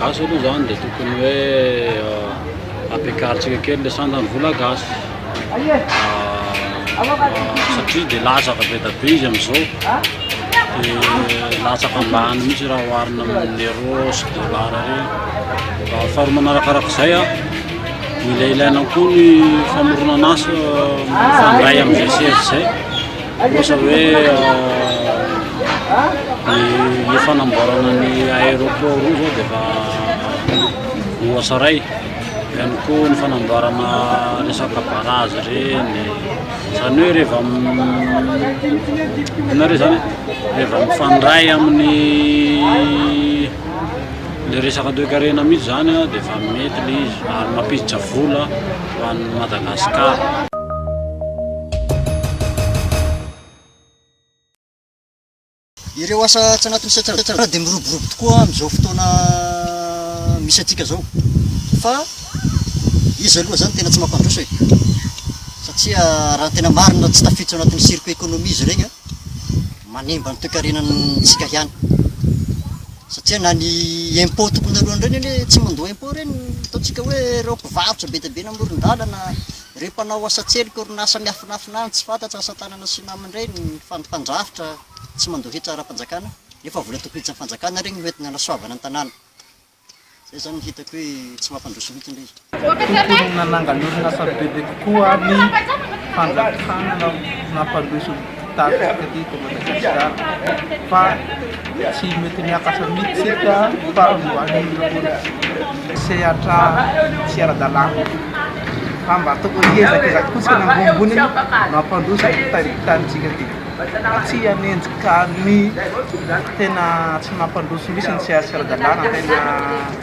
Gasy aloha zany dia tokony hoe ampiakarintsika kely le sandan'ny vola gasy satria dia latsaka be da be izy amin'izao dia latsaka ambany mihitsy raha oharina amin'ny euro sy dollar ireny faharoa manarakaraka izay a mila ilaina koa ny famoronana asa mifandray amin'izay sy izay Ohatra hoe ny fanamboarana ny aéroport io zao dia efa voasaray. Ihany koa ny fanamboarana resaka barrage ireny. Izany hoe rehefa inona re zany rehefa mifandray amin'ny le resaka toekarena mihitsy zany dia efa mety le izy ary mampiditra vola ho an'i Madagasikara. Ireo asa tsy anatin'ny setra dia miroborobo tokoa amin'izao fotoana misy antsika izao. Fa izy aloha izany tena tsy mampandroso e. Satria raha ny tena marina tsy tafiditra ao anatin'ny circuit économie izy ireny, manimba ny toekarenantsika ihany. Satria na ny impôt tokony alohan'ireny anie tsy mandoa impôt ireny, ataontsika hoe ireo mpivarotra be dia be eny amoron-dalana. Ireo mpanao asa an-tselika, orinasa miafinafina any, tsy fantatra, asa tanana sy namany ireny, mpandrafitra tsy mandoa hetra ara-panjakana, nefa vola tokotry ny fanjakana ireny no entina anasoavana ny tanàna. Izay izany no hitako hoe tsy mampandroso mihitsy ilay izy. Mikororona nangalonana asa bebe kokoa ny fanjakana no nampandroso ny. Tafika aty eto Madagasikara fa tsy mety miakatra mihitsy ka farany ho any ny politika. Sehatra tsy ara-dalàna fa mba tokony hiezakezaky fotsiny ambonimbony no hampandroso ity tanintsika ity fa tsy hanenjika ny tena tsy mampandroso mihitsy ny tsy ara-dalàna tena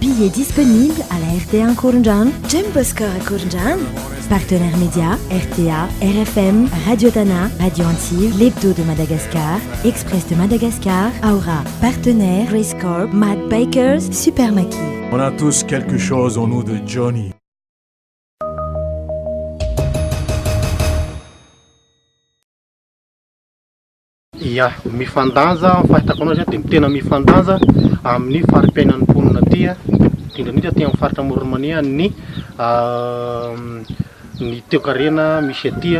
Billets disponibles à la rta Ankorondrano, Gem Boscor Ankorondrano. Partenaires médias, rta, rfm, Radio Tana, Radio Antsiva, L'Hebdo de Madagascar, Express de Madagascar, Aura. Partenaires, Grace Corp, Mad Bikers, Super Maki. On a tous quelque chose en nous de Johnny. Ia, mifandanja, ny fahitako an'azy dia tena mifandanja amin'ny fari-piainan'ny mponina aty, indrindra indrindra aty amin'ny faritra Amoron'i Mania ny ny toekarena misy aty.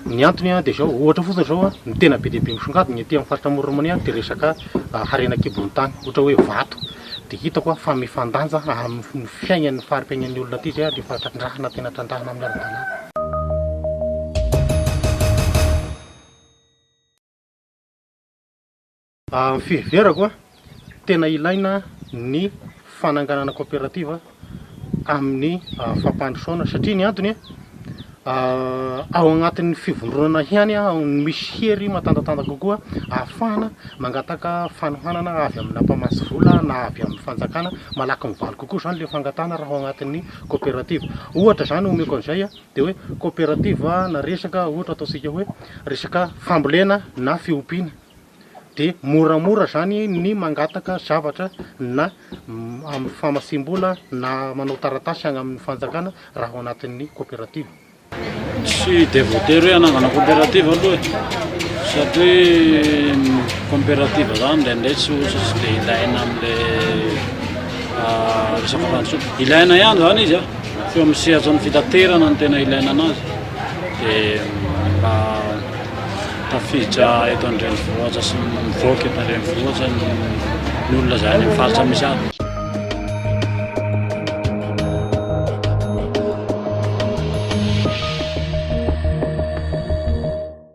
Ny antony dia izao, ohatra fotsiny izao, ny tena be dia be misongadina aty amin'ny faritra Amoron'i Mania dia resaka harena an-kibon'ny tany, ohatra hoe vato. Dia hitako fa mifandanja amin'ny fiainan'ny fari-piainan'ny olona aty izay ary efa trandrahana, tena trandrahana amin'ny ara-dalàna. Amin'ny fiheverako a, tena ilaina ny fananganana kaoperativa amin'ny fampandrosoana satria ny antony a, ao agnatin'ny fivondronana ihany no misy hery matanjatanja kokoa ahafahana mangataka fanohanana avy amina mpamatsy vola na avy amin'ny fanjakana, malaky mivaly kokoa zany le fangatahana raha ao agnatin'ny kaoperativa. Ohatra zany omeko an'izay a. Dia hoe coopérative na resaka ohatra ataontsika hoe resaka fambolena na fiompiana dia moramora izany ny mangataka zavatra na amin'ny famatsiam-bola na manao taratasy any amin'ny fanjakana raha ao anatin'ny coopérative. Tsy dia voatery hoe hanangana coopérative aloha e, satria ny coopérative izany indraindray tsy ohatry tsy dia ilaina amin'ilay resaka fantsona, ilaina ihany izany izy an! Eo amin'ny sehatran'ny fitaterana no tena ilaina anazy dia mba tafiditra eto an-drenivohitra sy mivoaka eto an-drenivohitra ny olona izay any amin'ny faritra misy azy.